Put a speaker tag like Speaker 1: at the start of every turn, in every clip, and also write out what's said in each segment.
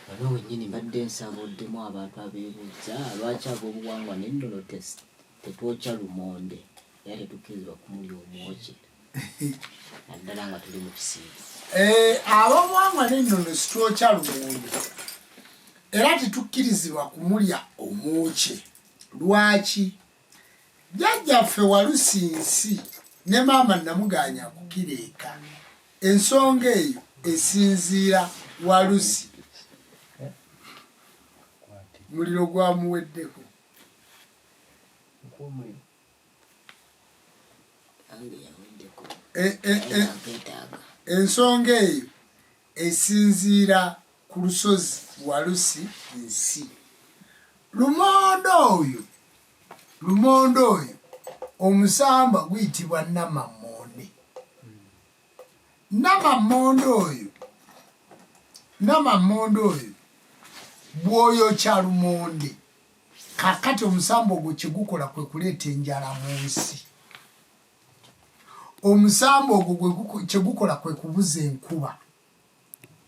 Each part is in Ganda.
Speaker 1: Wano wenyini mbadde nsaba oddemu abantu abeebuuzza lwaki ab'obuwangwa n'ennono tetwokya lumonde era tetukkirizibwa kumulya omwokye naddala nga tuli mu kisiibo. Eh, ab'obuwangwa
Speaker 2: n'ennono sitwokya lumonde era tetukkirizibwa kumulya omwokye lwaki? jjajjaffe walusi nsi ne maama namuganya kukireeka ensonga eyo esinziira walusi muliro gwamuweddeko e, e, e, ensonga eyo esinziira ku lusozi Walusi Nsi. Lumonde oyo lumonde oyo omusamba guyitibwa namammonde namammonde oyo namammonde oyo bwoyokya lumonde kakati omusamba ogwo kyegukola kwe kuleeta enjala mu nsi omusamba ogwo kyegukola kwe kubuza enkuba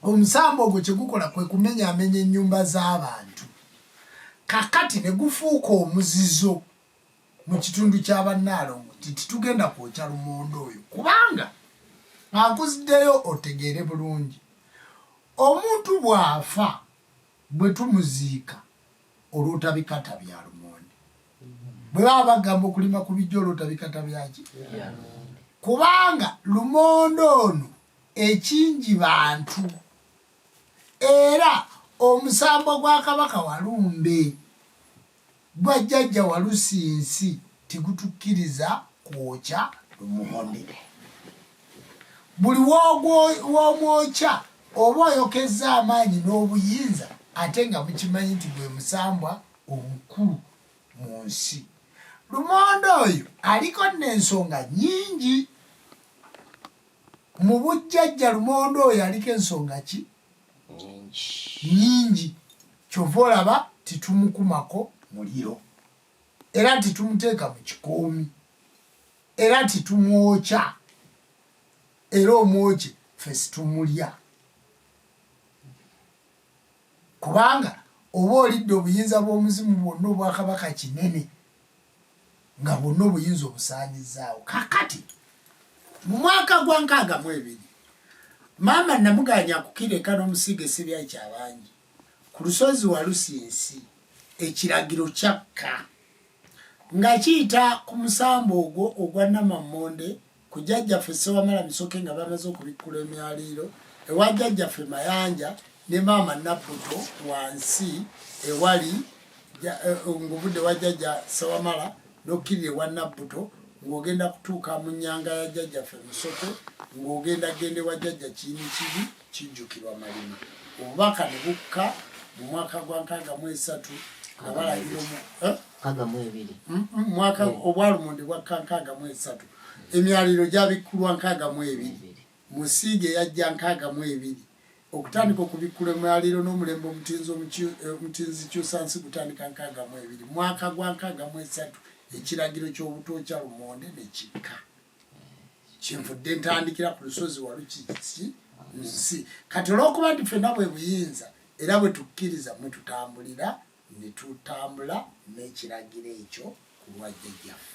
Speaker 2: omusamba ogwo kyegukola kwe kumenyaamenya ennyumba z'abantu kakati ne gufuuka omuzizo mu kitundu kya bannaalongo nti titugenda kwokya lumonde oyo kubanga akuziddeyo otegeere bulungi omuntu bw'afa bwe tumuziika olwotabikata bya lumonde bwe baba bagamba okulima ku bijja olwotabikata byaki kubanga lumonde ono ekingi bantu era omusambo gwa kabaka walumbe gwa jjajja walusinsi Tegutukiriza kwokya lumonde. Buli w'omwokya oba oyokezza amaanyi n'obuyinza ate nga mukimanyi nti gwe musambwa omukulu mu nsi. Lumonde oyo aliko nno ensonga nnyingi. Mu bujjajja lumonde oyo aliko ensonga ki? Nnyingi. Kyova olaba titumukumako muliro. era nti tumuteeka mu kikoomi era nti tumwokya era omwokye fe situmulya kubanga oba olidde obuyinza bw'omuzimu bwonna obwakabaka kinene nga bwonna obuyinza obusaanyizaawo kakati mu mwaka gwa nkaaga mu ebiri maama namuganya kukira eka n'omusiiga esibyayi kyabangi Ku lusozi Walusinsi ekiragiro kyakka nga kiyita ku musamba ogwo ogwa Namammonde ku Jjajjaffe Ssewamala Misoke nga bamaze okubikkula emyaliiro ewa Jjajjaffe Mayanja ne maama Nabbuto wansi ewali eh, ng'ovudde wa Jjajja Ssewamala n'okkirira ewa Nabbuto ng'ogenda kutuuka mu nnyanga ya Jjajjaffe Misoke ng'ogenda genda ewa Jjajja Kiyinikibi Kijjukirwa Malima obubaka ne bukka mu mwaka gwa nkaaga mu esatu nga balagira eh? mm, mm, mwaka eh. obwalumonde bwakka nkaaga mu esatu emyaliro gyabikkulwa nkaaga mu ebiri musiige yajja nkaaga mu ebiri okutandika okubikkula emyaliro n'omulembe omutinzi omutinzi eh, kyusansi gutandika nkaaga mu ebiri mwaka gwa nkaaga mu esatu ekiragiro ky'obutookya lumonde ne kikka kyenvudde ntandikira ku lusozi walukiki nsi kati olwokuba nti fenna bwe buyinza era bwe tukkiriza mwe tutambulira ne tutambula n'ekiragiro ekyo ku lwajjajjaffe